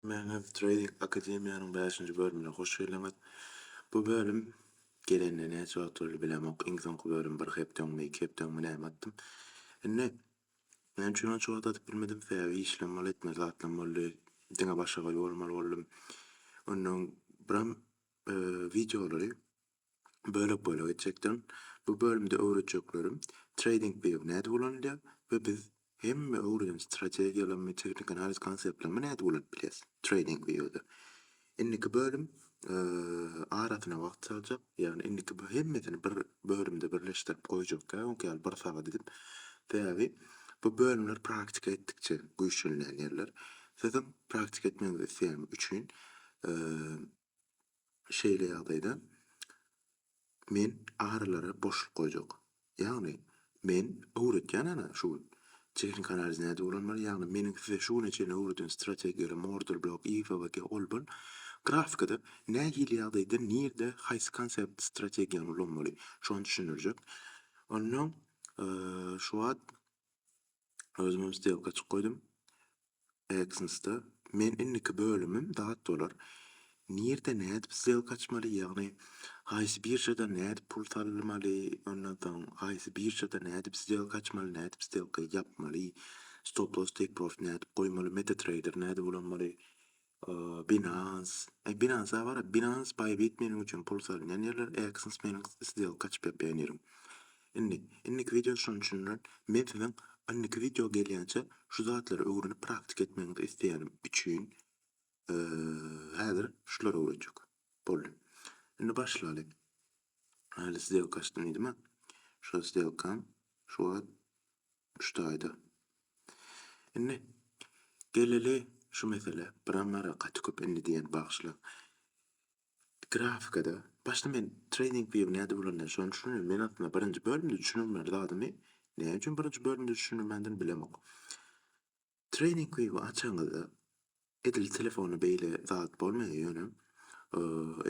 Manhev Trading Akademiýanyň bäşinji bölümine hoş geldiňiz. Bu bölüm gelenine näçe wagt boldy bilemok, iň soňky bölüm bir hepde öňüne, iki hepde öňüme näme atdym. Indi näme üçin onça wagt atyp bilmedim, sebäbi işlem boldy, etmeli zatlam boldy, diňe başagaý bolmaly boldum. Ondan öň biram wideolary bölek-bölek etjekdirin. Bu bölümde öwretjeklerim Trading View nädip ulanylýar we biz hemme öwreden strategiýalamy, tehniki analiz konseptlamy nädip ulanyp bilýäs Trading View-de. Indiki bölüm arasyna wagt saljak, ýagny indiki bu hemmesini bir bölümde birleşdirip goýjak däl, öňki ýaly bir sagat edip. Sebäbi bu bölümler praktika etdikçe güýçlenýän ýerler. Siziň praktika etmegiňizi isleýänim üçin Şeýle ýagdaýda men arylara boşluk goýjak. Ýagny, men öwretýän ana şu gün. Çigiriň kanaliz nädip ulanmaly, ýagny meniň size şu güne çenli öwreden strategiýaly Moordle blok IFVG olbn grafikada nähili ýagdaýda nirde haýsy konsept strategiýany ulanmaly şony düşündirjek. Onnoň şu wagt özümem stelka açyk goýdum. AdSense-de men indiki bölümim dat bolar. Nirde nädip sdelka açmaly, ýagny haýsy biržadan nädip pul salmaly, ondan soň haýsy biržada nädip sdelka açmaly, nädip sdelka ýapmaly, stop loss take profit nädip goýmaly, meta trader nädip ulanmaly, Ooh binance. Eý binance a bara binance bybit meniň üçin pul salynýan ýerler exness meniň sdelka açyp ýapýan ýerim. Indi indiki wideo şonuň üçin öl men siziň indiki wideo gelýänçä şu zatlary öwrenip praktika etmegiňizi isleýänim üçin eee häzir şulary öwretjek. Boldy. Indi başlaly. Hali sdelka açdym diýdimä. Şu sdelkam şu wagt Şu taýda. Indi geleli şu meselä. Biram gara gaty köp indi diýen bagyşlaň. Grafikada başda men trading view näde bolanda şony düşündim. Men aslynda birinji bölümde düşünen bir zadymy näme üçin birinji bölümde düşünmedim bilemok. Trening klipy açaňyzda edil telefona beýle zat bolmaýar ýöne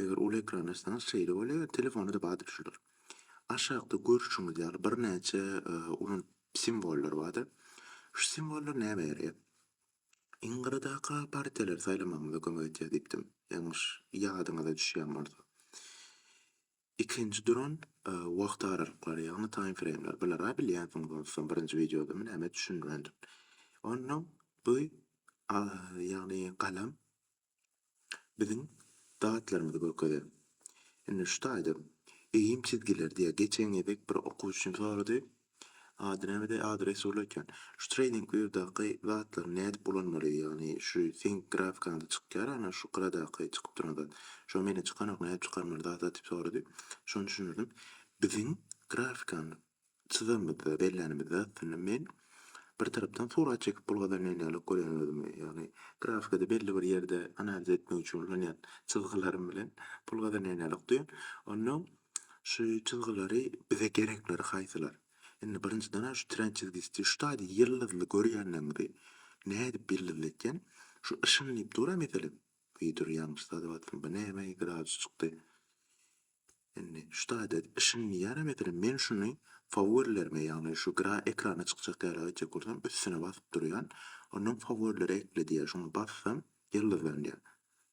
eger uly ekran açsaňyz şeýle bolýar telefonada bardyr şular. Aşakda görüşiňiz ýaly birnäçe ulan simwollar bardyr. Şu simwollar näme ýaraýar? Iň gyradaka partiýalary saýlamagyňyza kömek edýär diýipdim. Ýalňyş ýadyňyza düşýän bolsa. Ikinji duran wagt aralyklary, ýagny time frame-ler. Bulara bilýänsiňiz onsoň, birinji wideodamy näme düşündirendim. Onnoň bu ýagny galam biziň datlarymyzy görkezýär. Indi şu taýda egin çizgileri diýýär. Geçen gezek bir okuwçym sorady. Ady nämede ady Resull eken. Şu trading wiewdaky zatlary nädip ulanmaly ýagny şu seň grafikaňda çykýar ana şu gyradaky çykyp duran zat. Şo mende çykanok nädip çykarmaly zat zat diýip sorady. Şony düşündirdim. Biziň grafikany çyzanymyzda bellänimizde aslynda men bir tarapdan surat çekip bulgazanýan ýaly görýän özümi. Ýagny grafikada belli bir ýerde analiz etmek üçin ulanýan çyzgylarym bilen bulgazanýan ýaly duýan. Onnoň Şu çyzgylary bize gerekleri haýsylar? Indi birinjidenem şu trend çizgisi diýip şu taýda ýyldyzly görýänleriňizi nädip ýyldyzly etýän? Şu yşyn diýip dur-a meselem. Wideo ýalňyş sazyp atyryn. Bu näme gradus çykdy. Indi şu taýda yşyn diýýär-ä meselem men şuny faworilerime ýagny şu gra ekrana çykjak ýaly etjek bolsam üstüne basyp durýan. Ondan faworileri ekle diýýär. Şuňa bassam ýyldyzlandýar.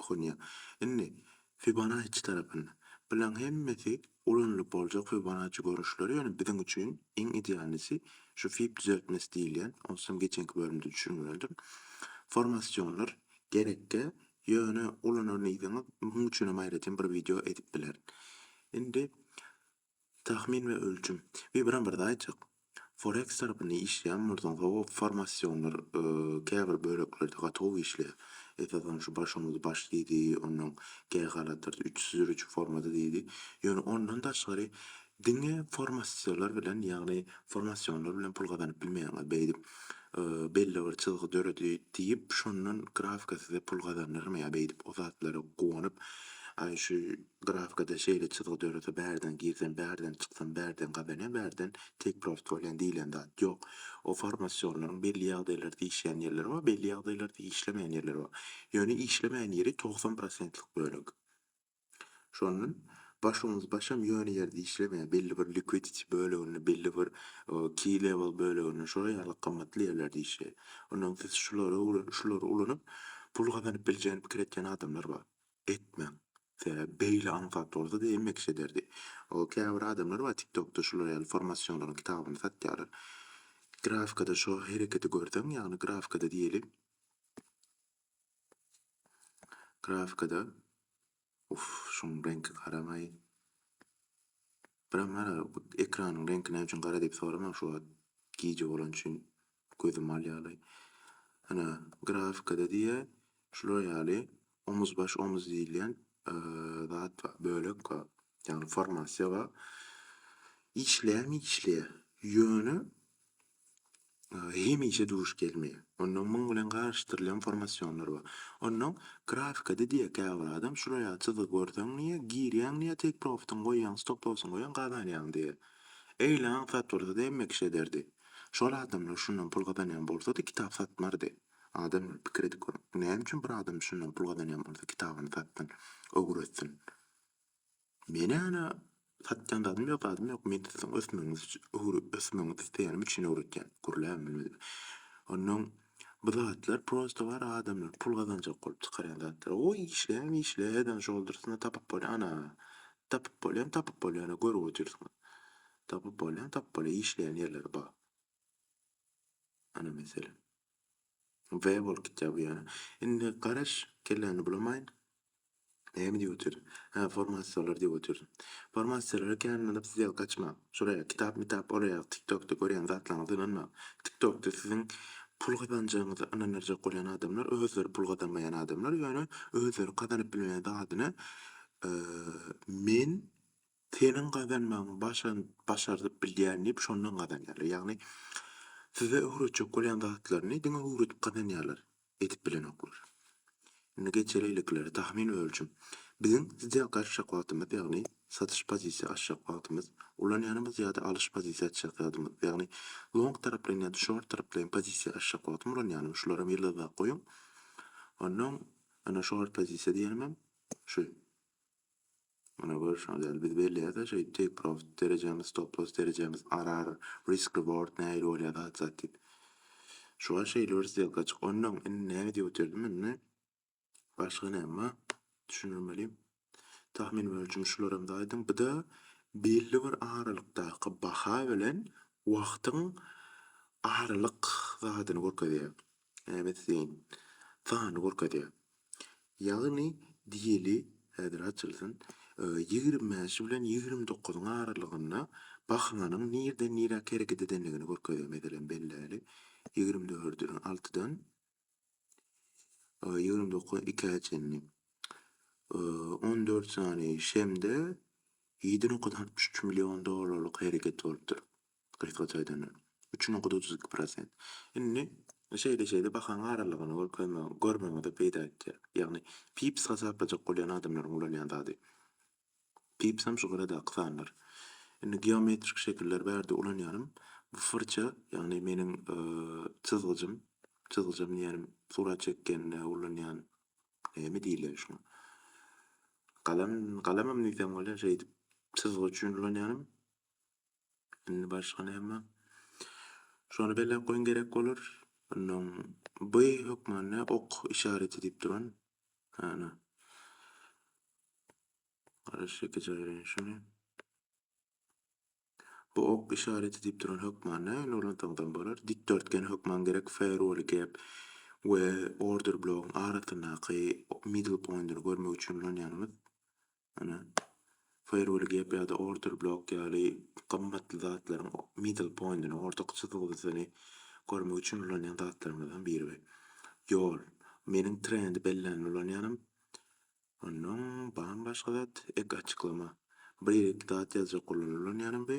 okunýar. Indi, Fibonacci tarapynda. Bulaň hemmesi ulanylyp boljak Fibonacci görnüşleri, ýöne biziň üçin iň idealisi şu Fib düzeltmesi diýilýän, ony sen geçenki bölümde düşündirendim. Formasionlar gerekge, ýöne ulananyňyz munuň üçinem aýratyn bir wideo edip bilerin. Indi, Tahmin we ölçüm. Bir biram birde aýtjak. Foreks tarapynda işleýän bolsaň hawa formasionlar käbir böleklerde gaty gowy işleýär. Esasan şu başyňyzy baş diýdi, ondan käýi halatlarda üç süzür üçin formada diýdi. Ýöne ondan daşgary diňe formasiolar bilen ýagny formasionlar bilen pul gazanyp bilmeýäňiz. Beýdip belli bir çyzgy döredi diýip şondan grafika size pul gazandyrmaýar beýdip o zatlara guwanyp aý şu Grafikada şeýle çyzgy dörese bärden girsen bärden çyksan bärden gazanýan bärden tek prost bolýan diýlen zat ýok. O formasionlaryň belli ýagdaýlarda işleýän ýerleri bar belli ýagdaýlarda işlemeýän ýerleri bar. Ýöne işlemeýän ýeri togsan prosentlik bölek. Şondan başumuz başam ýöne ýerde işlemeýär belli bir liquidity böleginde belli bir key level böleginde şolar ýaly gymmatly ýerlerde işleýär. Ondan siz şulary şulary ulanyp pul gazanyp biljegini pikir etýän adamlar bar. etmeň. Sebäbi beýle aňsat bolsa diýen mekiş ederdi. O käbir adamlar bar tiktokda şular ýaly formasyonlaryň kitabyny satýarlar. Grafikada şo hereketi görseň ýagny grafikada diýeli grafikada uff şuň reňki garamaý. Biram hara ekranyň reňki näme üçin gara diýip soramaň şu wagt gije bolany üçin gözüm alýalaý. Hana grafikada diýýär şular ýaly omuz baş omuz diýilýän zat bar bölek bar ýagny formasiýa bar işleýärmi işleýär ýöne hemişe duş gelmeýär. Onnoň muň bilen garyşdyrylýan formasionlar bar. Onnoň grafikada diýýär käbir adam şular ýaly çyzygy görseň diýýär, girýäň diýýär take profitiňi goýýaň, stop lossyňy goýýaň gazanýaň diýýär. Eýle aňk zat bolsady hemme kişi ederdi. Şol adamlar şundan pul gazanýan bolsady kitap satmardy. Adamlar pikir edip görüň. Näme üçin bir adam şundan pul gazanýan bolsa kitabyny satsyn, öwretsin. Men ana satýan zadym ýok zadym ýok men siziň ösmegiňiz üçin öwre ösmegiňizi isleýänim üçin öwretýän gürläň men özüm onnoň bu zatlar prosta bar adamlar pul gazanjak bolup çykarýan zatlar oý işläň işle her zat şol dursyna tapyp bolýar ana tapyp bolýan tapyp bolýar ana görüp otyrsyňyz tapyp bolýan tapyp bolýar işleýän ýerleri bar ana meselem We bolup gitýär bu ýöne. Indi garaş, kelläňi bulamaýyn. Näme diýip otyryn? Hä, formasiýalar diýip otyryn. Formasiýalara kän ynanyp siz ýaly gaçmaň. Şuraya kitap-mitap ol ýaly tiktokda görýän zatlaryňyza ynanmaň. Tiktokda siziň pul gazanjagyňyza ynandyrjak bolýan adamlar özleri pul gazanmaýan adamlar ýöne özleri gazanyp bilmeýän zadyny men Seniň gazanmagyňy başan başardyp bilýän diýip şondan gazanýarlar. Ýagny size öwretjek bolýan zatlaryny diňe öwredip gazanýarlar. Edip bilenoklar. Indi geçeliliklere tahmin we ölçüm. Biziň size gaçjak wagtymyz ýagny satyş pozisiýa açjak wagtymyz, ulanýanymyz ýa-da alyş pozisiýa açjak ýadymyz ýagny long taraplaýyn ýa-da short taraplaýyn pozisiýa açjak wagtym ulanýanym şularam ýyldyzlap goýuň. Onnoň ana short pozisiýa diýenimem şu. Muny görüşiňiz ýaly, biz belleýäs-ä şeýdip take profit derejemiz, stop loss derejemiz, RR, risk reward nähili bolýar zat zat diýip. Şu wagt şeýle bir stelka çyk. Ondan indi näme diýip otyrdy indi? Başga näme bar? Düşündirmeli. Tahmin ölçümi şularam zaýdyň. Bu-da belli bir aralykdaky baha bilen wagtyň aralyk zadyny görkezýär. Näbet zeýin. Sany görkezýär. Ýagny diýeli, häzir açylsyn, ýigrimi bäşi bilen ýigrimi dokuzyň aralygynda bahnanyň nirden niräk hereket edendigini görkezýär. Meselem, belläli, ýigrimi dördi altydan ýigrimi dokuzy ikä çenli. On dört sany şemde ýedi nokta altmyş üç million dollarlyk hereket bolupdyr. Gysgaça aýdanda, üç nokta otuz iki prosent. Indi şeýle-şeýle bahaň aralygyny görkezmegiň, görmegiňde peýda etýär. Ýagny pips hasaplajak bolýan adamlaryň ulanýan zady. Pipsem şu gyradaky sanlar. Indi geometrik şekiller bärde ulanýanym bu fyrça, ýagny meniň çyzgyjym, çyzgyjam diýýänim surat çekende ulanýan näme diýilýär şuňa? Galam, galamam diýsem bolýar, şeýdip çyzgy üçin ulanýanym. Indi başga näme? Şony belläp goýuň gerek bolar. Ondan bu hökmany ok işareti diýip duran. Ana. Garaş iki jaýraýyn şuny. Bu ok işareti diýip duran hökmany indi ulansaňyzam bolar. Dikdörtgen hökman gerek Ferrari gap we order blogyň arasyndaky middle pointy görmek üçin ulanýanymyz. Ýöne firewall gap ýa-da order block ýaly gymmatly zatlaryň middle point-ini, ortaky çyzgysyny görmek üçin ulanýan zatlarymyzdan biri we ýol. Meniň trendi bellänini ulanýanam. Ondan barmy başga zat? Ek açyklama. Bir ýerik zat ýazjak bolanda ulanýanam we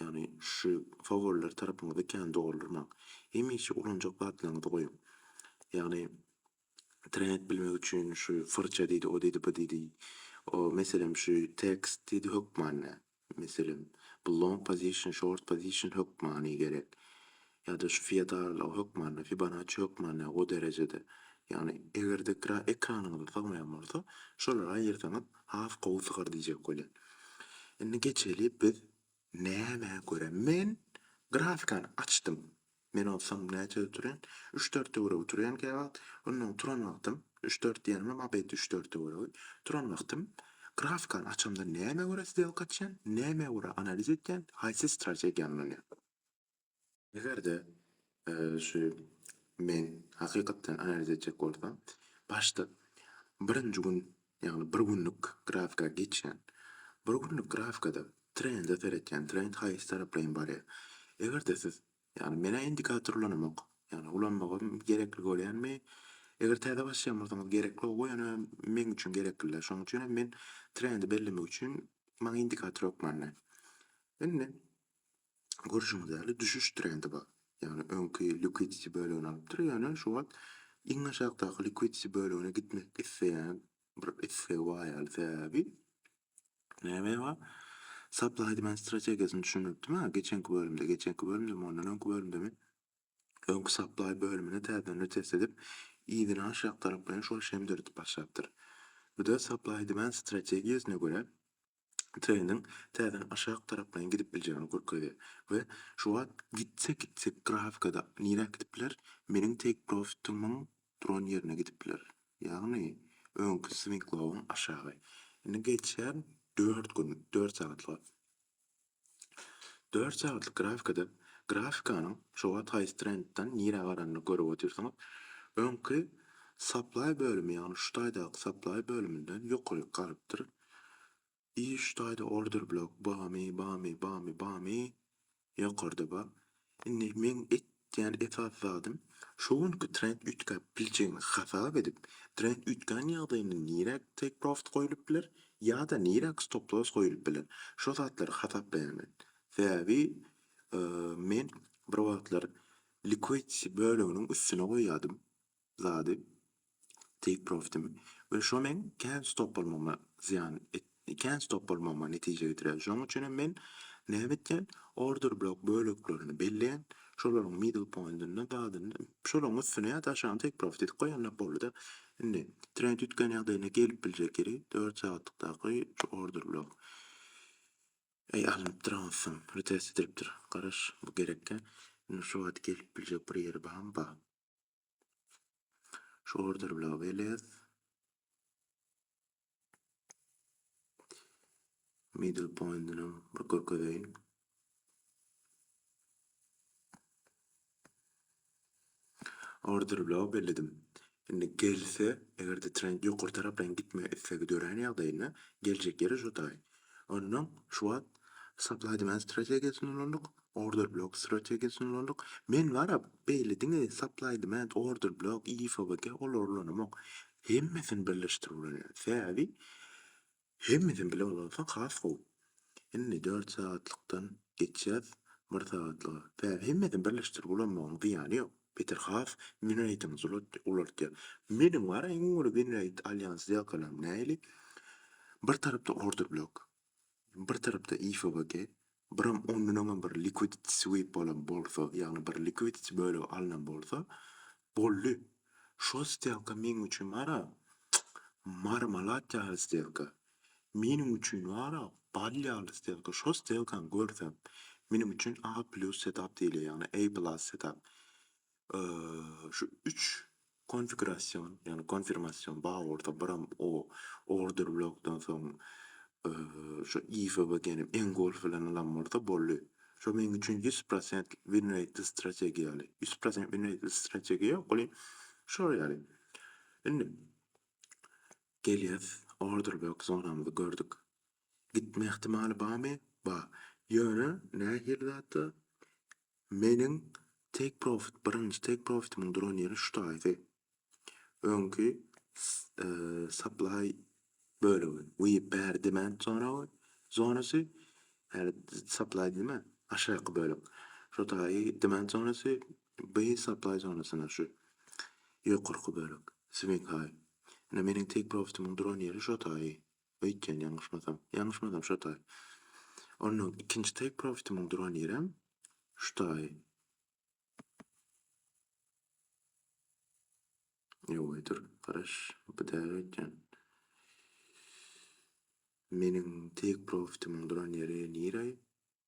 Ýagny şu faworiler tarapyňyzy kän doldurmaň. Hemişe ulanjak zatlaryňyzy goýuň. Ýagny trend bilmek üçin şu fyrça diýdi, o diýdi, bu diýdi. O meselem şu tekst diýdi hökmany. Meselem bu long position, short position hökmany gerek. ýa-da şu feodallyga hökmany, Fibonacci hökmany o derejede, ýagny eger-de ekranyňyza sygmaýan bolsa, şolary aýyrsaňyz has gowy sygar diýjek bolýan. Indi geçeli biz nämä görä men grafikany açdym. Men onsoň näçede turýan? Üç-dört töweregi turýan käwagt. Onnoň turan wagtym üç-dört diýenimem abeýt üç-dört töweregi. Turan wagtym grafikany açamda nämä görä sdelka açýan, nämä görä analiz edýän, haýsy strategiýa ulanýan? Eger-de şu men hakykatdan analiz etjek bolsam, başda birinji gün, ýagny bir günlük grafika geçýän. Bir günlük grafikada trende seretýän, trend haýsy taraplaýyn barýar. Eger-de siz, ýagny menä indikator ulanamok, ýagny ulanmagym gerekli bolýanmy, eger täze başlaýan bolsaňyz gerekli gowy, ýöne meň üçin gerekli-dä. Şonuň üçin hem men trendi bellemek üçin maňa indikator ýok many. Indi görşüňiz ýaly düşüş trendi bar. Ýagny öňki liquidity bölegini alypdyr, ýöne şu wagt iň aşakdaky liquidity bölegine gitmek isleýän bir islegi bar ýaly. Sebäbi näme bar? Supply demand strategiýasyny düşündiripdim ha geçenki bölümde, geçenki bölümdemi, ondan öňki bölümdemi? Öňki supply bölümini täzeden retest edip, yzyny aşak taraplaýyn şol şemdirdip başlapdyr. Bu-da supply demand strategiýasyna görä treniň täzeden aşak taraplaýyn gidip biljegini görkezýär we şu wagt gitse gitse grafikada niräk gidip biler, meniň take profitimiň duran ýerine gidip biler. Ýagny öňki swinglowuň aşagy. Indi geçýär dört gün, dört sagatlyga. Dört sagatlyk grafikada grafikanyň şu wagt haýsy trendden nirä baranyny görüp otyrsyňyz. Öňki Supply bölümi ýagny şu taýdaky Supply bölüminden ýokaryk galypdyr. I şu taýda Order blok bamy bamy bamy bamy ýokarda bar. Indi meň etýän esasy zadym, şu günki trend üýtgäp biljegini hasap edip, trend üýtgän ýagdaýynda niräk take profit goýlup biler ýa-da niräk stop loss goýlup biler, şo zatlary hasaplaýan men. Sebäbi men bir wagtlar liquidity böleginiň üstüne goýýardym. zady take profitimi we şo meň kän stop bolmagyma zyýan et kän stop bolmagyma netije getirýär. Şonuň üçin hem men näme etýän? Order blok böleklerini belleýän, şolaryň middle pointyny badyny şolaryň üstüne ýa-da aşagyna take profit edip goýanlar boldy-da. Indi trend üýtgän ýagdaýynda gelip biljek ýeri dört sagatlykdaky şu order blok. Eý alnypdyr aňsam, retest edilipdir. Garaş, bu gerekkä. Indi şu wagt gelip biljek bir ýeri barmy? Bar. Şu order bilen gelýär. Middle pointini bir görkezeýin. Order bilen belledim. Indi gelse, eger de trend ýokary tarapdan gitme islegi dörän ýagdaýynda geljek ýeri şu taý. Ondan şu wagt supply demand strategiýasyny ulandyk. Order blok strategiýasyny ulandyk. Men barap, beýle diňe supply demand, order blok, IFBG olary ulanamok. Hemmesini birleşdirip ulanýan. Sebäbi hemmesini bile ulansaň has gowy. Indi dört sagatlykdan geçýäs bir sagatlyga. Sebäbi hemmesini birleşdirip ulanmagyň zyýany ýok. Beter has win rateňizi ulaltýar. Meniň barap iň uly win rate alýan sdelkalarymy nähili? Bir tarapda order blok. bir tarapda IFVG, biram ondan öňem bir liquidity sweep bolan bolsa, ýagny bir liquidity bölegi alnan bolsa, boldy. Şol stelka meň üçin wara, marmalat ýaly stelka. Meniň üçin wara, bal ýaly stelka. Şol stelkany görsem, meniň üçin A plus setup diýilýär, ýagny A plus setup. Şu üç konfigurasion, ýagny konfirmasion baworda biram o order blokdan soň şu IFBG-niň engolf bilen alan bolsa boldy. Şu meň üçin ýüz prosent win reýtli strategiýa ýaly. Ýüz prosent win reýtli strategiýa ýok welin şol ýaly. Indi gelýäs order blok zonamyzy gördük. Gitme ähtimaly barmy? Bar. Ýöne nähili zatda? Meniň take profit, birinji take profitimiň duran ýeri şu taýdy. Öňki supply bölegi, we bäri demand zona zonasy, ýa supply diýme, aşaky bölek. Şu taýy demand zonasy, bu supply zonasyna şu ýokarky bölek, swing high. Ine meniň take profitimiň duran ýeri şu taýy. Öýtýän ýalňyşmasam. Ýalňyşmasam şo taý. Onnoň ikinji take profitimiň duran ýerem şu taý. Ýoe dur, garaş, bu däl öýtýän. Meniň take profitimiň duran ýeri nireý?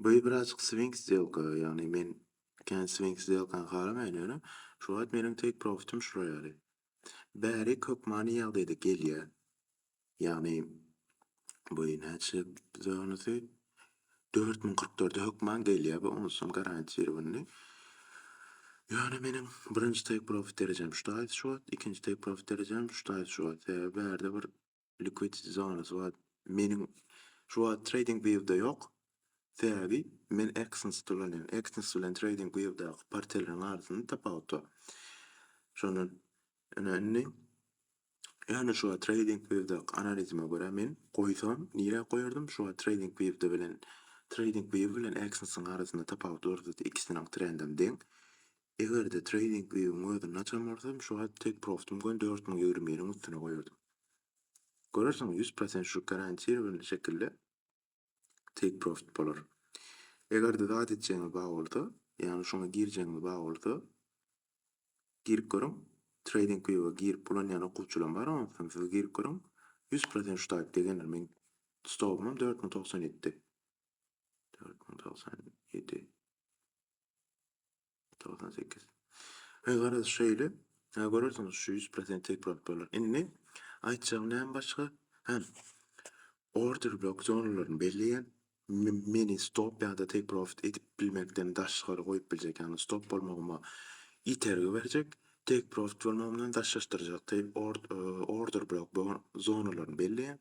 Boýy birazjyk swing sdelka, ýagny men kän swing sdelkany halamaýan ýöne şu wagt meniň take profitim şular ýaly. Bärik hökmany ýagdaýda gelýär. Ýagny boýy näçe bize onusy dört müň kyrk dörde hökman gelýär bu onusam garantirowanyny. Ýöne meniň birinji take profit derejem şu taýda şu wagt, ikinji take profit derejem şu taýda şu wagt. Sebäbi bärde bir Liquid zonasy bar. Meniň şu wagt trading view'da ýok. Sebäbi men Exness ulanýan. Exness bilen trading view'daky portelleriň arasynda tapawut bar. Şondan öne indi ýöne şu wagt trading view'daky analizime görä men goýsam nirä goýardym? Şu wagt trading view'da bilen trading view bilen Exness-iň arasynda tapawut bar zat ikisiniň trendem deň. Eger-de treýning wiwiň özünde açan bolsam, şu wagt tek profdym göni dört müň ýigrimi biriň üstüne goýardym. Görersiň, ýüz prosent şu garantirowany şekilde take profit bolar. Eger-de zat etjegiňiz bar bolsa, ýagny şuňa girjegiňiz bar bolsa, girip görüň. Treýning wiwa girip ulanýan okuwçylaryň bar, onsoň siz girip görüň. Ýüz prosent şu taýpda geler. Meň stopumam dört müň togsan ýedi. Dört müň togsan ýedi. Togsan sekiz. He, garaz, şeýle. Hä, görersiňiz, şu ýüz prosent tek bolup bolar. Indi, aýtjagym näme başga? Hä, order blok zonalaryny belleýän, meni stop ýa-da take profit edip bilmekden daşgary goýup biljek, ýagny stop bolmagyma itergi berjek, take profit bolmagymdan daşlaşdyrjak, order blok zonalaryny belleýän,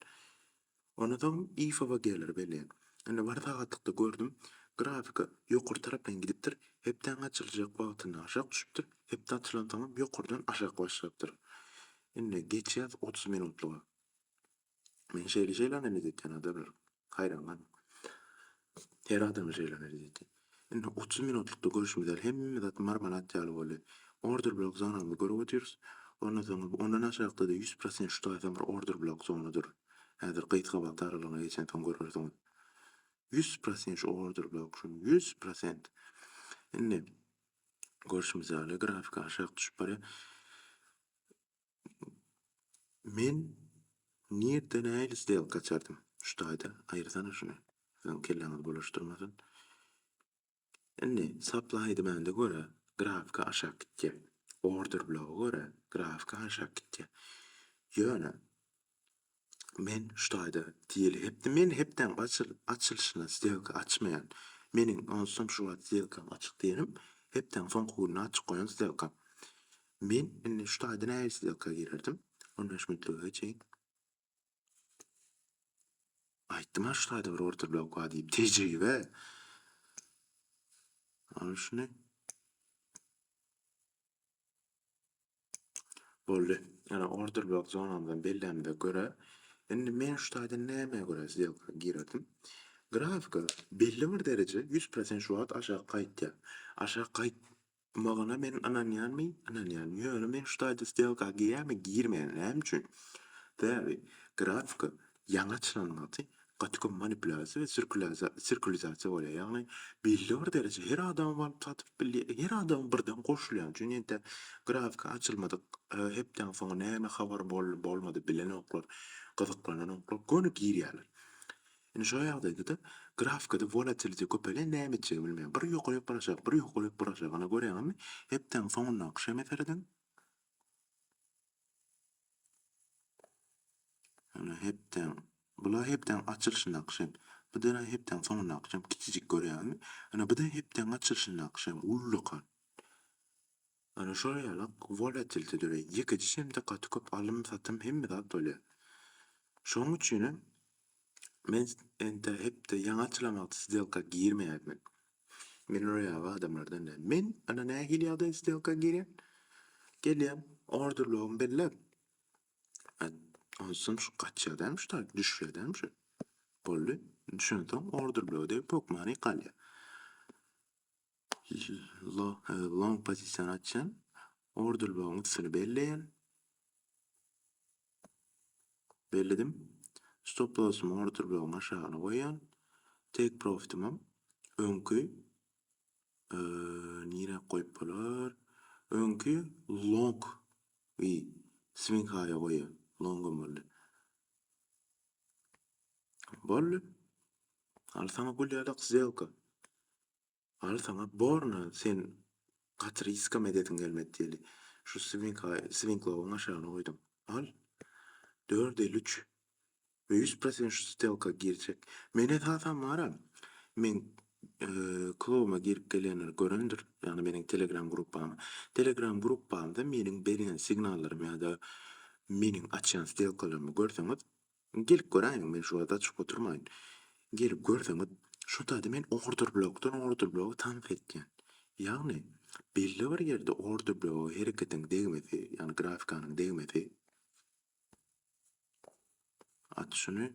Ondan soň IFAB-a geler welin, indi bir sagatlykda gördüm, grafika ýokary tarapdan gidipdir, hepdäň açyljak wagtynda aşak düşüpdir, hepde açylansoňam ýokardan aşak başlapdyr. Indi geçýäs otuz minutlyga. Men şeýle-şeýle analiz etýän adamlar. Haýran galyň. Her adama şeýle ony diýdi. Indi otuz minutlykda görüşimiz ýaly hemme zat marmelat ýaly boldy. Order blok zonamyzy görüp otyrys. Ondan soň ondan aşakda-da ýüz prosent şu taýdan bir order blok zona dur. Häzir gysga wagt aralygyna geçensoň görersiňiz. Ýüz prosent şu order blok şu ýüz prosent. Indi görüşimiz ýaly grafik aşak düşüp barýar. Men nirde nähili stelka açardym şu taýda aýyrsana şuny siziň kelläňizi bulaşdyrmasyn. Indi sapla aýdymände görä grafika aşak gitýär. Order bloga görä grafika aşak gitýär. Ýöne Men şu taýda diýeli hepde men hepdäň açyl açylyşyna sdelka açmaýan. Meniň onsam şu wagt sdelkam açyk diýenim hepdäň soňky gününe açyk goýan sdelkam. Men indi şu taýda nähili sdelka girerdim? On bäş minutlyga çenk. Aýtdym-a şu taýda bir order blok bar diýip tejribe. Ana şuny. Boldy. Ýöne order block zonamyzdan bellämde görä, indi men şu taýdan nämä görä sdelka girerdim? Grafika belli bir dereje 100 prosent şu wagt aşak gaýtýar. Aşak gaýtmagyna men ynanýanmy? Ynanýan. Ýöne men şu taýda sdelka girýämi? Girmeýän. Näme üçin? Sebäbi grafika Ýaňy açylan magty gaty köp manipulýasiýa we sirkulizasiýa bolýar. Ýagny belli bir dereje her adamy balyk gatyryp bilýär. Her adama birden goşulýan üçin ýene-de grafika açylmadyk hepdäň soňy näme habar boldy bolmady bilenoklar, gyzyklananoklar göni girýärler. Indi şo ýagdaýda-da grafikada wolatilite köpelýär näme etjegini bilmeýär. Bir ýokaryk bir aşak bir ýokaryk bir aşak ynha görýäňizmi hepdäň soňundaky şeme serediň. Ýöne hepdäň, bula hepdäň açylyşyndaky şem, bir-de hepdäň soňundaky şem kiçijik görýärmi? Ýöne bir-de hepdäň açylyşyndaky şem ullakan. Ýöne şol ýaly-ak wolatilite döreýär. Ýekeje şemde gaty köp alym-satym hemme zat bolýar. Şonuň üçinem Men ente hepde ýaňy açylamagty sdelka girmeýädmin. Men roýaby adamlardan däl. Men ana nähili ýagdaý sdelka girýän. Gelýän orderlogym belläp. Onsoň şu gaçýa däl şu taýy düşýä däl şu. Boldy. Düşensoň orderlogda pokmany galýa. Long pozisiýany açýan. Order blogyň üstüni belleýän. Belledim. Stop lossumy order blogyň aşagyna goýýan. Take profitim hem öňki nire goýup bolar? Öňki long we swing high goýýan. Long boldy. Boldy. Alsana gül ýadak zelka. Al saňa borna sen gaty riskam edesiň gelmedi diýeli. Şu swinklowyň aşagyna goýdum. Al. Dört elli üç. We ýüz prosent şu stelka girjek. Men esasan bara meň klubuma girip gelýänler görendir. Ýagny meniň telegram gruppamy. Telegram gruppamda meniň berýän signallarymy ýa-da meniň açýan stelkalarymy görseňiz Gelip göräýiň, men şu wagta çykyp oturmaýyn. Gelip görseňiz, şo taýda men orderblokdan orderbloga tans etýän. Ýagny, belli bir ýerde orderbloga hereketiň degmesi, ýagny grafikanyň degmesi, at şuny,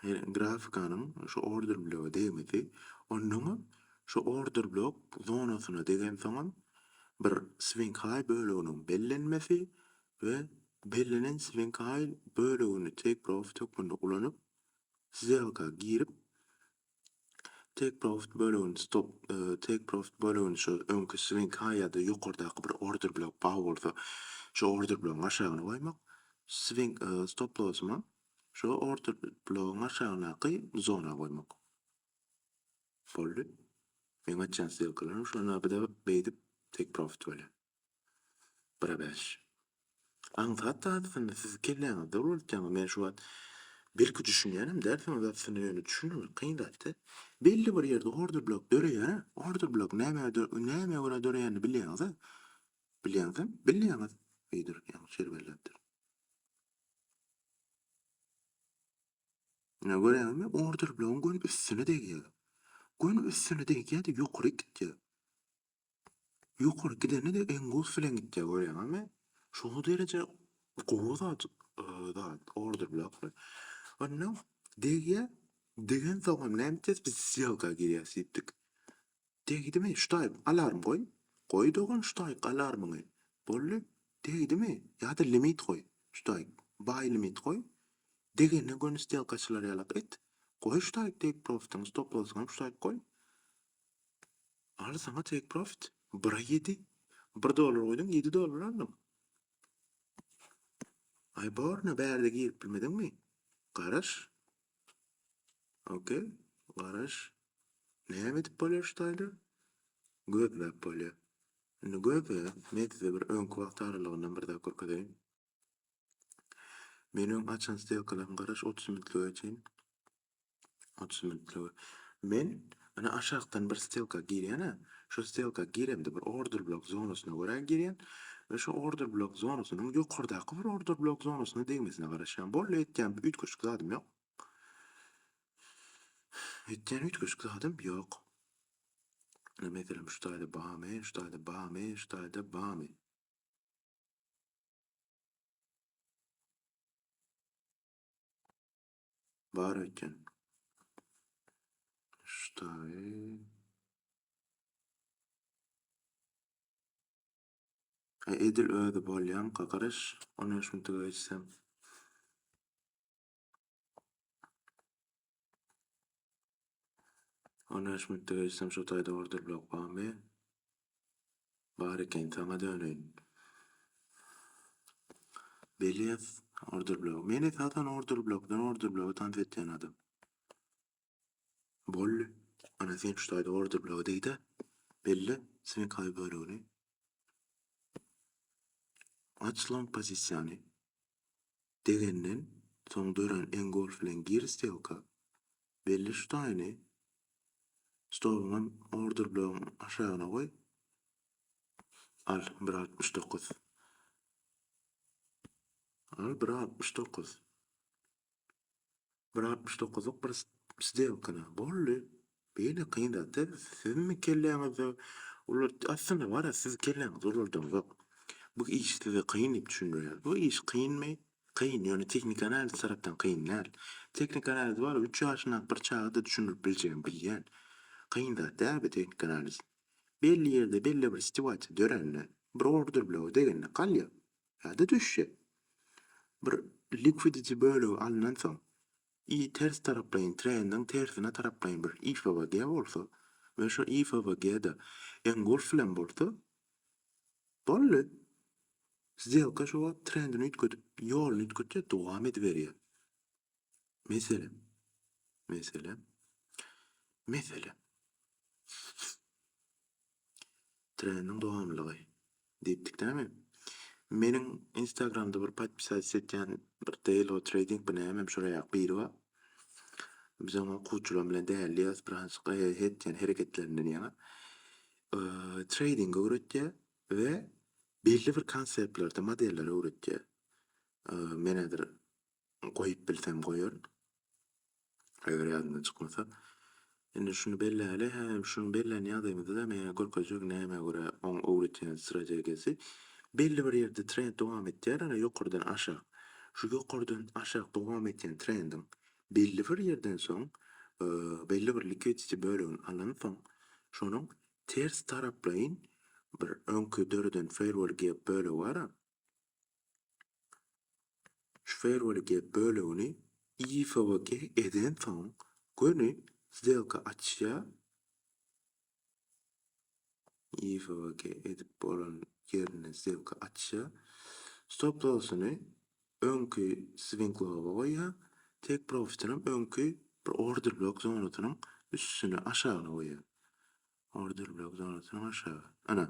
grafikanyň şu order bloga degmesi, onnoňam şu order blok zonasyna degensoňam bir swing high böleginiň bellenmesi we bellenen swing high bölegini take profit hökmünde ulanyp, szelka girip, Take profit bölegini stop take profit bölegini şu öňki swing high ýa-da ýokardaky bir order bilen bagy bolsa şu order bilen aşagyna goýmak. Swing stop lossymy şu order bilen aşagynaky zona goýmak. Boldy. Meň açýan stilkalaryň şonda bir de beýdip take profit bolýar. Bire bäş. Aňsat dadysyny siz kelläňizde ulanýarsyňyz. Men şu wagt belki düşünýänem dälsiňiz aslynda ýöne düşündirmek kyn zatda. Belli bir ýerde order blok döreýär. Order blok nämä nämä görä döreýänini bilýäňizä? Bilýäňizem bilýäňiz öýdür ýaňy şeýle belläpdir. Ine görýäňizmi order blogyň göni üstüne degýär. Göni üstüne degýär-de ýokaryk gitýär. Ýokary gideni-de engulf bilen gitýär görýäňizmi? Şo dereje gowy zat zat order bilen akry. Onda degýär, degensoňam näme edýäs biz sýelka girýäs diýipdik. Degdimi ştaýg alarm goý. Goý dogan ştaýg alarmyňy. Boldy. Degdimi ýa-da limit goý. Ştaýg baý limit goý. Degende göni sýelkaçylar ýalak et. Goý ştaýg degip proftyň stop lossyňam ştaýg goý. Al saňa take profit. Bira ýedi. Bir dollar goýduň, ýedi dollar aldyň. Aý borna bärde girip bilmediňmi? Garaş. Okey, garaş. Näme edip bolýar şu taýda? Gözläp bolýar. Indi gözle, men size bir öňki wagt aralygyndan bir zat görkezeýin. Men öň açan stelkalaryň garaş otuz minutlyga çenli otuz minutlyga men ine aşakdan bir stelka girýän a şu stelka giremde bir order blok zonasyna görä girýän we şu order blok zonasynyň ýokardaky bir order blok zonasyna degmesine garaşýan boldy etýän üýtgeşik zadym ýok etýän üýtgeşik zadym ýok meselem şu taýda bamy şu taýda bamy şu taýda bamy Bar eken. Ştaýy. E, edil özi bolýanka garaş, ony şuntuga geçsem. On bäş minutda geçsem şu taýda order blok barmy? Bar eken saňa döneýin. Belez order blok. Men esasan order blokdan order bloga tans etýän adam. Bolly. Ana sen şu taýda order bloga degde. Belli sen kaý bölegini. Aç lan pozisiýany. degenden soň dörän Engolf bilen Gir Stelka belli şutaýyny stoluňam order blogyň aşagyna goý. Al, bir altmyş dokuz. Al, bir altmyş dokuz. Bir altmyş dokuzlyk bir sdelkana boldy. Beýle kyn zat däl. Siziňmi kelläňizde olar aslynda bar-a siziň kelläňizde olardaňzok. Bu iş size kyn diýip düşündirýär. Bu iş kynmy? Kyn, ýöne tehniki analiz tarapdan kyn däl. Tehniki analiz bar-a üç ýaşyndaky bir çaga-da düşündirip biljegini bilýän. Kyn zat däl bu tehniki analiz. Belli ýerde belli bir sitüasiýa dörände, bir order blogy degende galýar. ýa-da düşjek. Bir liquidity bölegi alnansoň, i ters taraplaýyn trendiň tersine taraplaýyn bir ifwg bolsa we şo ifwg-da engulf bilen bolsa, boldy. Sdelka şo wagt trendini üýtgedip, ýoluny üýtgetýär, dowam ediberýär. Meselem, meselem, meselem. Treniň dowamlygy. Diýipdikdämi? Meniň Instagramda bir podpisat etýän bir Delo Trading bu näme şola ýa biri bar. Biz oňa okuwçylar bilen dälýäs, bir hansy etýän hereketlerinden ýa. Trading öwretýär we belli bir konseptlerde modelleri öwretýär. Menä bir goýup bilsem goýaryn. Eger ýadymdan çykmasa. Indi şuny belläýeli, hä, şuny bellän ýagdaýymyzda-da meýär görkezjek nämä görä oň öwredýän strategiýasy. Belli bir ýerde trend dowam etýär, ýöne ýokardan aşak. Şu ýokardan aşak dowam edýän trendiň belli bir ýerden soň, belli bir liquidity bölegini alansoň, şonuň ters taraplaýyn bir öňki döreden fairwall gap bölegi bar-a, Şu ferweli gep bölegini IFWG edensoň göni sdelka açýa IFWG edip bolan ýerine sdelka açýa stop lossyny öňki swing lowa goýýa take profitinam öňki bir order blok zonasynyň üstüne aşagyna goýýa order blok zonasynyň aşagy ana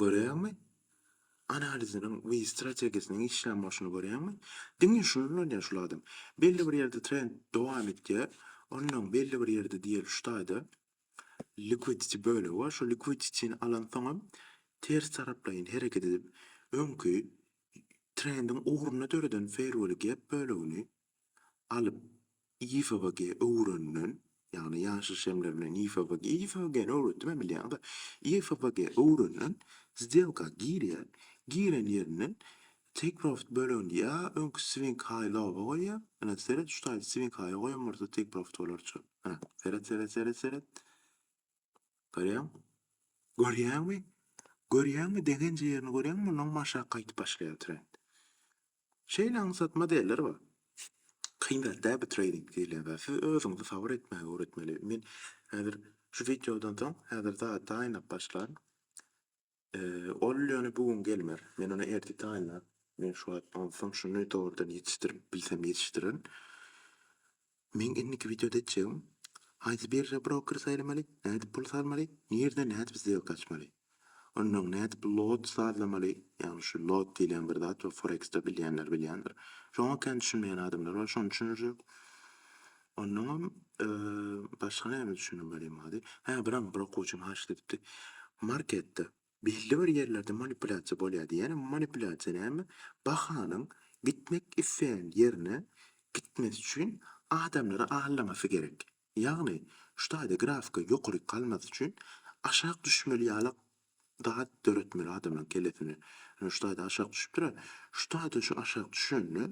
Görýäňmi? Analiziniň we strategiýasynyň işlän bolşuny görýäňmi? Diňe şuny ulanýar şul adam. Belli bir ýerde trend dowam etýär. Onnoň belli bir ýerde diýeli şu taýda liquidity bölegi bar. Şu liquidity-ni alansoňam ters taraplaýyn hereket edip öňki trendiň ugrunda döreden fair value gap bölegini alyp YFWG öwrenilen, ýagny ýaşyl şemler bilen YFWG, YFWG-ni öwretdim-ä bilýäňiz-ä, YFWG öwrenilen sdelka girýär, giren ýerinden take profit bölegini ýa öňki swing high-low-a goýýar, ine, seret, şu taýda swing high-a goýan bolsa take profit bolar çal, ine, seret, seret, seret, seret, Görýäň? Görýäňmi? Görýäňmi, degenje ýerini görýäňmi, mundan hem aşak gaýdyp başlaýar trend. Şeýle aňsat modeller bar. Kyn zat däl bu treýding diýilýän zat. Siz özüňizi sabyr etmäge öwretmeli. Men häzir şu wideodan soň häzir zady taýynlap başlaryn. Ol ýöne bu gün gelmer. Men ony ertir taýynlan. Men şu wagt onsoň şuny dogrudan ýetişdirip bilsem ýetişdirerin. Meň indiki wideoda etjegim, haýsy birža broker saýlamaly, nädip pul salmaly, nirde nädip sdýelka açmaly. Onsoň nädip lot sazlamaly, ýagny şu lot diýlen bir zat bar, foreksde bilýänler bilýändir. Şoňa kän düşünmeýän adamlar bar, şony düşündirjek. Onnoňam başga näme düşündim welin bady. Hä, bir aňy bir okuwçym haşyt edipdi. Marketde belli bir ýerlerde manipulýasiýa bolýar diýýär. Ýöne manipulýasiýa näme? Bahanyň gitmek isleýän ýerine gitmesi üçin adamlary aldamasy gerek. Ýagny, şu taýda grafika ýokaryk galmasy üçin aşak düşmeli ýalak Zat döretmeli adamlaň kellesine. Ine şu taýda aşak düşüpdir-ä. Şu taýda şu aşak düşende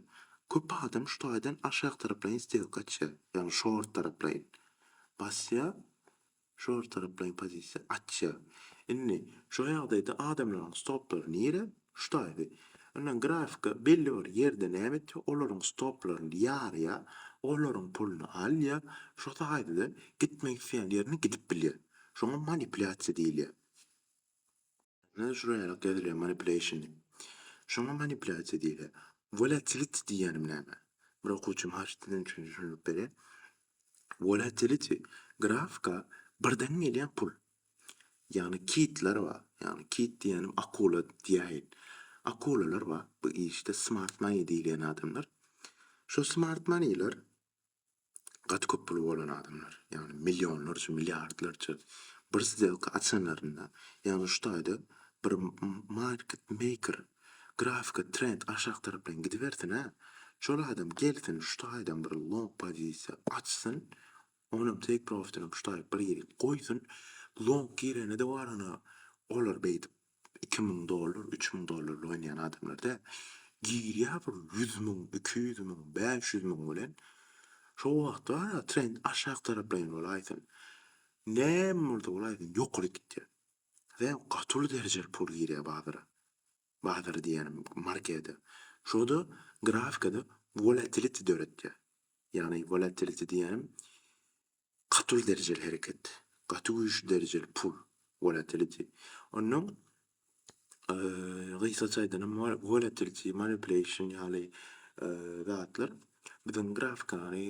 köp adam şu taýdan aşak taraplaýyn stelka açýar. Ýagny şort taraplaýyn. Basýar. Şort taraplaýyn pozisiýa açýar. Indi şu ýagdaýda adamlaň stoplary nire? Şu taýdy. Ondan grafika belli bir ýerde näme etýär? Olaryň stoplaryny ýarýar, olaryň puluny alýar, şo taýda-da gitmek isleýän ýerine gidip bilýär. Şoňa manipulýasiýa diýilýär. Ine, şuraya ýaly ýazylýar manipulation diýip. Şoňa manipulýasiýa diýilýär. Volatility diýýänim näme? Bir okuwçym haýyş etdi, siziň üçin düşündirip berýän. Volatility, grafika birden gelýän pul. Ýagny kitler bar. Ýagny kit diýýänim akula diýäýin. Akulalar bar. Bu işde smart money diýilýän adamlar. Şu smart moneyler gaty köp puly bolan adamlar. Ýagny millionlarça, milliardlarça bir sdelka açanlarynda, ýagny şu taýda bir market maker grafika trend aşak tarapdan gidibersin-ä, şol adam gelsin şu taýdan bir long pozisiýa açsyn, Onam take profitini puşlaýyp bir ýigit goýsun, long gireni-de bar ana, olar beýdip iki müň dollar, üç müň dollarly oýnaýan adamlar däl. Girýär bir ýüz müň, iki ýüz müň, bäş ýüz müň bilen. Şo wagt bar-a trend aşak taraplaýyn bolaýsyn. Näme bolsa bolaýsyn ýokary gitýär. Sen gaty uly derejeli pul girýär bazara. bazary diýýänim, marketi. Şurada grafikada wolatiliti döretýär. Ýagny wolatiliti diýýänim, gatyl derejeli hereket, gaty güýçli derejeli pul, wolatiliti. Onnoň gysgaça aýdanam wolatiliti, manipulation ýaly zatlar biziň grafikany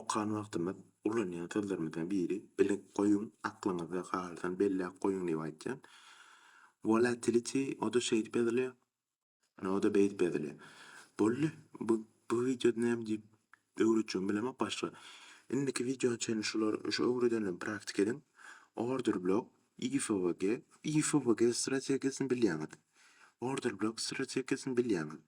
Okan wagtymyz ulanýan sözlerimizden biri bilip goýuň, aklyňyzda galsyn, belläp goýuň diýip aýtýan. Volatility o-da şeýdip ýazylýar, o-da beýdip ýazylýar. Boldy, bu bu wideoda näme diýip öwretjegimi bilemok başga. Indiki wideoň çenli şular şu öwredenlerimi praktika ediň. Order blok, IFVG, IFVG strategiýasyny bilýäňiz. Order blok strategiýasyny bilýäňiz.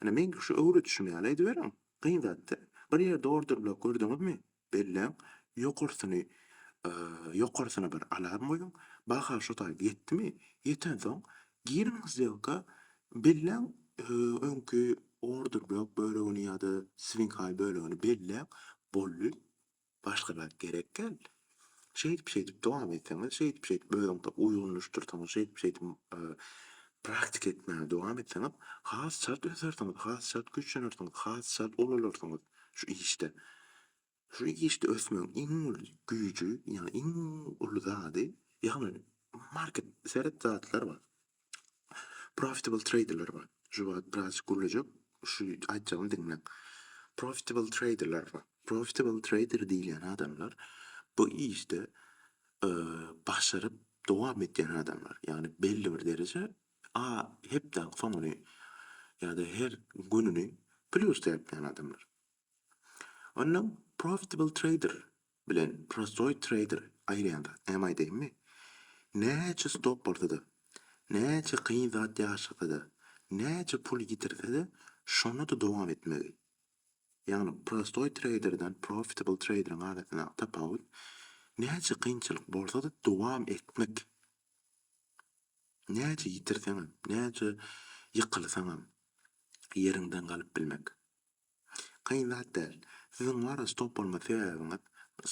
Ine, meňki şu öwredişim ýaly ediberiň. Kyn zat-da. Bir ýerde order blok gördüňizmi, belläň, ýokarsyny, ýokarsyna bir alarm goýuň, baha şo taýda ýetdimi, ýetensoň, giriň zdýelka, belläň, öňki order blok bölegini ýa-da swing high bölegini belläň, boldy. Başga zat gerek däl. Şeýdip-şeýdip dowam etseňiz, şeýdip-şeýdip özüňize uýgunlaşdyrsaňyz, şeýdip-şeýdip praktika etmäge dowam etseňiz, has çalt ösersiňiz, has çalt güýçlenersiňiz, has çalt ulalarsyňyz şu işde. Şu işde ösmegiň iň uly güýji, ýagny iň uly zady, ýagny market, seret zatlar bar. Profitable traderler bar. Şu wagt biraz gürlejek. Şu aýtjagymy diňleň. Profitable traderler bar. Profitable trader diýilýän adamlar bu işde başaryp dowam etýän adamlar. Ýagny belli bir dereje a hepde soňuny ýa-da her gününi plusda ýapýan adamlar. Ondan profitable trader bilen prostoý treýder aýyrýan zat näme aýdaýynmy? Näçe stop bolsa-da, näçe kyn zat ýaşasa-da, näçe pul ýitirse-de, şonda-da dowam etmegi. Ýagny prostoý treýderden profitable treýderiň arasyndaky tapawut näçe kynçylyk bolsa-da dowam etmek. Näçe ýitirseňem, näçe ýykylsaňam ýeriňden galyp bilmek. Kyn zat däl. Siziň wara stop bolma sebäbiňiz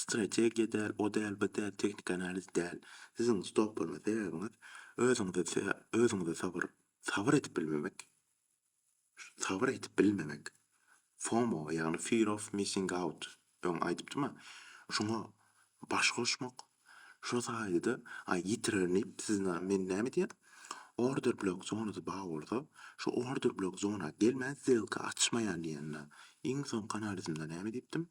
strategiýa däl, o däl, bu däl, tehniki analiz däl. Siziň stop bolma sebäbiňiz özüňize özüňize sabyr sabyr edip bilmemek. Sabyr edip bilmemek. FOMO, ýagny fear of missing out Öň aýdypdym-a, şoňa baş goşmak, şo taýda-da aý ýitirerin diýip siz na, men näme edýän? Order block zonasy bar bolsa, şo order block zona gelmän sdelka açmaýan diýen na, iň soňky analizimde näme diýipdim?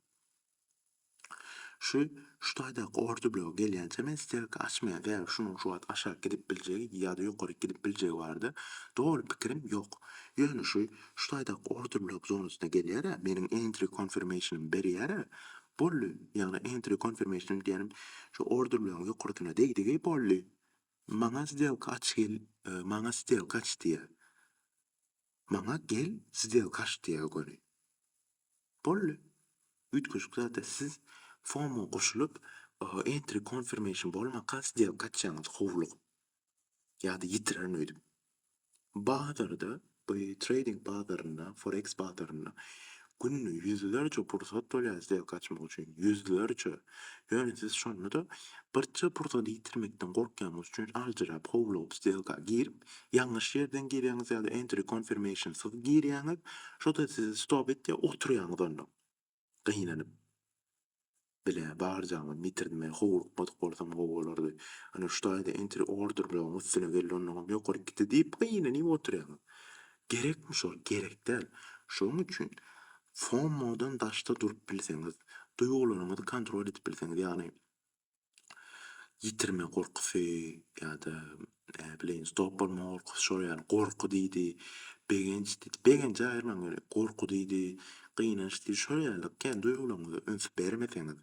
Şu, şu taýdaky order blogy gelýänçä men sdelka açmaýan, sebäbi şunuň şu wagt aşak gidip biljegi ýa-da ýokaryk gidip biljegi barada doly pikirim ýok. Ýöne şu, Şu taýda order block zonasyna gelýär-ä, meniň entry confirmation-ym berýär-ä, boldy. Ýagny entry confirmation diýenim şu order block-yň ýokarsyna degdigi, boldy. Maňa sdelka aç gel, maňa sdelka aç diýýär. Maňa gel, sdelka aç diýýär göni. Boldy. Üýtgeşik zat-a, siz FOMO goşulyp, entry confirmation bolmaka sdelka açýaňyz howlugyp. ýa-da ýitirerin öýdüp. Bazarda, trading bazarynda, forex bazarynda günde ýüzlerçe pursat bolýar sizä gaçmak üçin, ýüzlerçe. Ýöne siz şonda-da birje pursady ýitirmekden gorkýanyňyz üçin aljyrap, howlugyp stelka girip, ýalňyş ýerden girýäňiz ýa-da entry confirmation-syz girýäňiz, şo-da sizi stop etýär, oturýaňyz onda. Gynanyp, bile, barjagymyz bitirdim. Men howlukmadyk bolsam gowy bolardy. Ana, şu taýda entry order blogyň üstüne geldi, onnoňam ýokaryk gitdi diýip gynanyp otyrýaňyz. Gerekmi şol? Gerek däl. Şonuň üçin FOMO-dan daşda durup bilseňiz, duýgularyňyzy kontrol edip bilseňiz, ýagny ýitirme gorkusy ýa-da näbileýin stop bolma gorkusy şol ýaly gorky diýdi, begenç diýdi, begenji aýyrmaň welin, gorky diýdi, gynanç diýdi, şol ýaly kän duýgularyňyza üns bermeseňiz,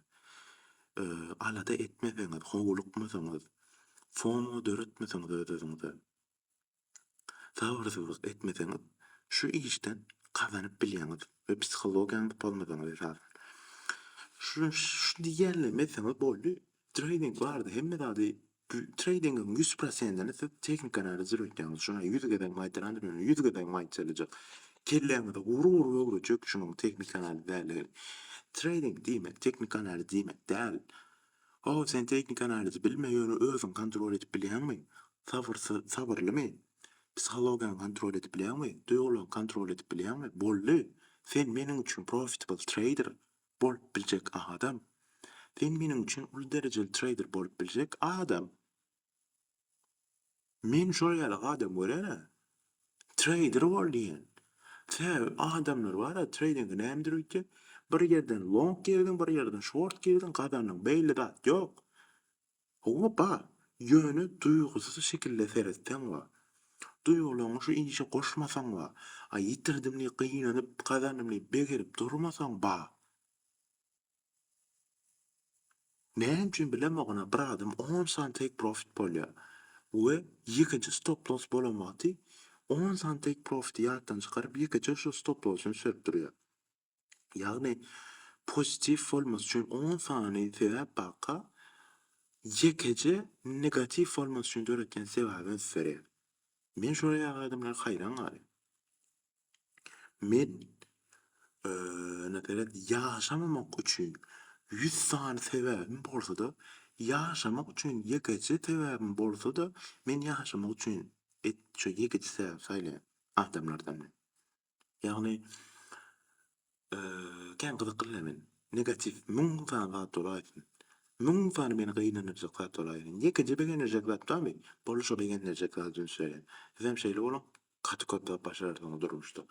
alada etmeseňiz, howlukmasaňyz, fomo döretmeseňiz öz-özüňize, Sabyrsyzlyk etmeseňiz, şu işden gazanyp bilýäňiz we psihologiýaňyzy pozmasaňyz esasan. Şu şu diýýänlerimi etseňiz boldy. Treýding bardy, hemme zady treýdingiň ýüz prosentini siz tehnikany arzir etýäňiz. Şuny ýüz gezek maýtlandyr, ýöne ýüz gezek maýtlalyjak. Kelläňizi gur-gur öwrüjek şunuň tehnikany arzir däldigi. Treýding diýmek, tehnikany arzir diýmek däl. How sen tehniki analizi bilmeýäni özüň kontrol edip bilýäňmi? Sabyrsyz sabyrlymy? Psihologiýaňy kontrol edip bilýäňmi? Duýgulaňy kontrol edip bilýäňmi? Boldy! Sen meniň üçin profitable trader bolup biljek adam! Sen meniň üçin uly derejeli trader bolup biljek adam! Men şol ýaly adam görýän-ä. Treýder bol diýen. Tä adamlar bar-a, treýdingi nämedir öýtýän. Bir ýerden long girdiň, bir ýerden şort girdiň, gazandyň. Beýle zat ýok. Hawa, bar. Ýöne duýgusyz şekilde seretseň bar. Duýgularyňy şu işe goşmasaň bar. A ýitirdim diýip gynanyp, gazandym diýip begenip durmasaň bar. Näme üçin bilemoguna bir adam on sany take profit bolýar we ýekeje stop loss bolan wagty on sany take profiti ýatdan çykaryp ýekeje şu stop lossyny sürüp durýar. Ýagny pozitiw bolmasy üçin on sany sebäp baka ýekeje negatiw bolmasy üçin döretýän sebäbi ösüp berýär. Men şola ýaly adamlara haýran galýan. Men nätelijk ýaşamamak üçin ýüz sany sebäbim bolsa-da, ýaşamak üçin ýekeje sebäbim bolsa-da, men ýaşamak üçin ýekeje sebäbi saýlaýan adamlardan men. Ýagny Kän gyzyklyda men. Negatiw müň sany zat bolaýsyn. Müň sany meni gynandyrjak zat bolaýsyn. Ýekeje begendirjek zat barmy? Boldy şo begendirjek zady üns beriň. Sizem şeýle boluň. Gaty köp zat başararsyňyz durmuşda.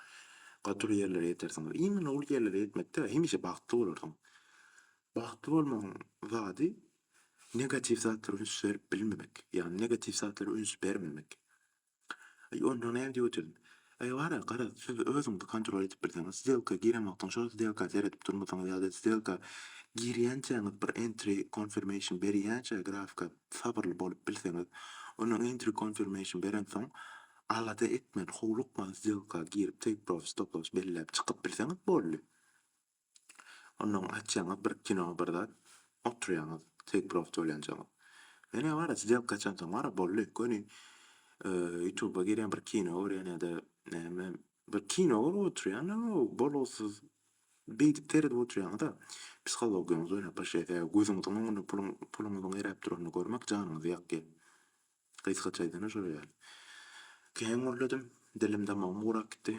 Gaty uly ýerlere ýetersiňiz. Iň uly ýerlere ýetmekde hemişe bagtly bolarsyň. Bagtly bolmagyň zady negatiw zatlara üns berip bilmemek. Ýagny negatiw zatlara üns bermemek. Aý, onda nädip ödedim? Aý, bar-a, garaz, siz özüňizi kontrol edip bilseňiz, sdelka giren wagtyň şol sdelka seredip durmysyňyz ýa-da sdelka girýänçäňiz bir entry confirmation berýänçä grafika sabyrly bolup bilseňiz, ondan entry confirmation berensoň, alada etmän, howlukman sdelka girip take profit stop loss belläp çykyp bilseňiz boldy. Onnoň açýaňyz bir kino bir zat, oturýaňyz, teý prost bolýançaňyz. Menä bara sdelka açansoň bara boldy. Göni ýutuba girýän bir kino görýän ýa-da näme bir kino görüp oturýan bolgusyz beýdip seredip oturýaňyz-a psihologiýaňyz oýnap başlaýar sebäbi gözüňiziň öňünde puluň puluňyzyň eräp duranyny görmek janyňyzy ýakýar. Gysgaça aýdanda şol ýaly. Kän gürledim. Dilim damagym gurak gitdi.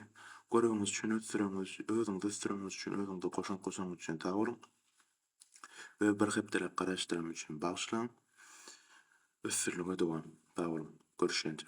Göregiňiz üçin ösdüreňiz, özüňiz ösdüreňiz üçin, özüňize goşant goşanyňyz üçin sag boluň. We bir hepdeläp garaşdyranym üçin bagyşlaň. Ösdüriliňe dowam. Sag boluň. Görüşýänçä.